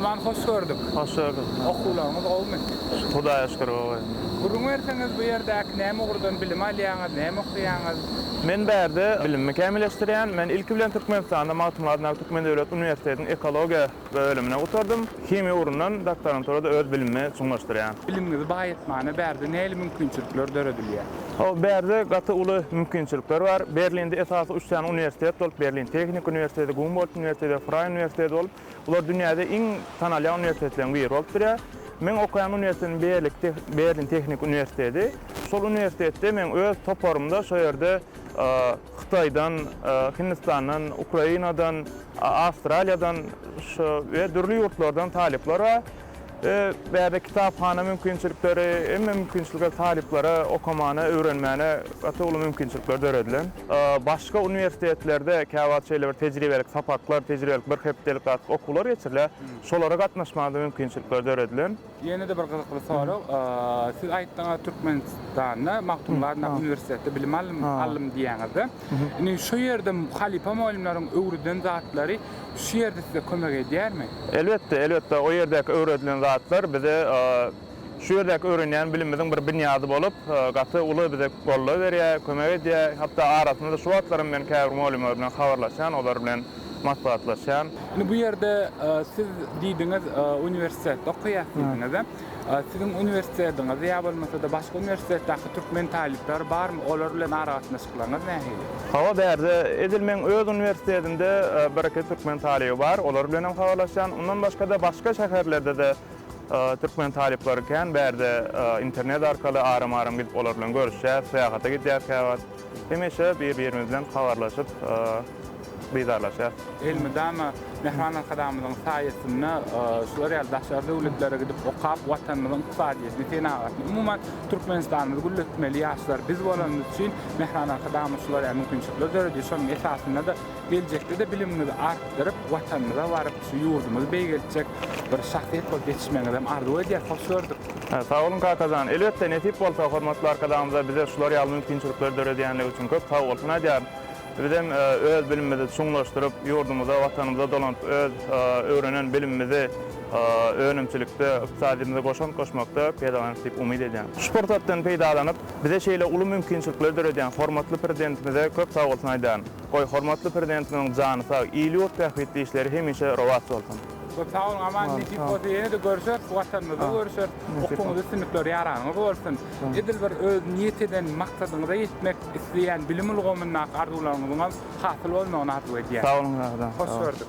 Aman hoş gördük. Hoş gördük. Okuwlaryňyz gowumy? Hudaýa şükür gowy. Gürrüň berseňiz bu ýerdäki näme ugurdan bilim alýaňyz, näme okaýaňyz? Men bärde bilimimi kämilleşdirýän. Men ilki bilen Türkmenistanda Magtymguly adyndaky Türkmen döwlet uniwersitetiniň ekologiýa Bölümini gutardym. Himiýa ugrundan doktoranturada öz bilimimi çuňlaşdyrýan. Bilimiňizi baýatmana bärde nähili mümkinçilikler döredilýär? Hawa, bärde gaty uly mümkinçilikler bar. Berlinde esasy üç sany uniwersitet bolup, Berlin Tehniki uniwersiteti, Gumbolt uniwersiteti we Fraý uniwersiteti bolup, bular dünýäde iň tanalýan uniwersitetleriň biri bolup durýar. Meň okaýan uniwersitetim Berlik te Berlin Tehniki uniwersiteti. Şol uniwersitetde meň öz toparymda şo ýerde Hytaýdan, Hindistandan, Ukrainadan, Awstraliýadan şu we dürli ýurtlardan talyplar bar. We bärde kitaphana mümkinçilikleri, hemme mümkinçilikler talyplara okamana, öwrenmäne gaty uly mümkinçilikler döredilen. Başga uniwersitetlerde käwagt şeýle bir tejribelik sapaklar, tejribelik bir hepdelik zat okuwlar geçirilýär. Şolara gatnaşmaga-da mümkinçilikler döredilen. Ýene-de bir gyzykly sorag. Siz aýtdyňyz Türkmenistanda Magtymguly adyndaky uniwersitetde bilim aldym diýýäňizde. Indi şu ýerde halypa mugallymlaryň öwreden zatlary şu ýerde size kömek edýärmi? Elbetde, elbetde. O ýerdäki öwredilen zatlar bize şu ýerdäki öwrenýän bilimimiziň bir binýady bolup, gaty uly bize goldaw berýär, kömek edýär. Hatda arasynda şu wagtlaram men käbir mugallymlar bilen habarlaşýan, olar bilen maslahatlaşýan. Indi bu ýerde siz diýdiňiz, uniwersitetde okaýas diýdiňiz. Siziň uniwersitetiňizde ýa bolmasa-da başga uniwersitetdäki türkmen talyplary barmy? Olar bilen aragatnaşyklaryňyz nähili? Hawa, bärde edil meň öz uniwersitetimde bir-iki türkmen talyby bar, olar bilen hem habarlaşýan. Ondan başga-da başga şäherlerde-de türkmen talyplary kän, bärde internet arkaly aram-aram gidip olar bilen görüşýäs, syýahata gidýäs käwagt. Hemişe bir-birimiz bilen habarlaşyp, dydarlaşýarys. Elmydama Mähriban Arkadagymyzyň saýasynda şular ýaly daşary döwletlere gidip okap, Watanymyzyň ykdysadyýetini, senagatyny, umuman, Türkmenistanymyzy gülletmeli ýaşlar biz bolanymyz üçin Mähriban Arkadagymyz şular ýaly mümkinçilikler döredýär. Şonuň esasynda-da Geljekde-de bilimiňizi artdyryp, Watanymyza baryp, şu ýurdumyzy beýgeltjek bir şahsyýet bolup ýetişmegiňizem arzuw edýäs. Hoş gördük! Sag boluň Kakajan! Elbetde, nesip bolsa, hormatly Arkadagymyza bize şular ýaly mümkinçilikleri döredýänligi üçin köp sag bolsun aýdýaryn. Bizem öz bilimimizi çuňlaşdyryp, ýurdumyza, Watanymyza dolanyp, öz öwrenen bilimimizi önümçilikde, ykdysadymyza goşant goşmakda peýdalanarys diýip umyt edýän. Şu pursatdan peýdalanyp, bize şeýle uly mümkinçilikleri döredýän hormatly Prezidentimize köp sag bolsun aýdýaryn. Goý, hormatly Prezidentimiziň jany sag, il-ýurt bähbitli işleri hemişe rowaç bolsun! Köp sag boluň, aman nesip bolsa ýene-de görüşeris, bu Watanymyzda görüşeris. Okuwyňyzda üstünlikler ýaragyňyz bolsun. Edil bir öz niýet eden maksadyňyza ýetmek isleýän bilim ulgamyndaky arzuwlaryňyzyňam hasyl bolmagyny arzuw edýän. Sag boluň, Sag boluň. Hoş gördük.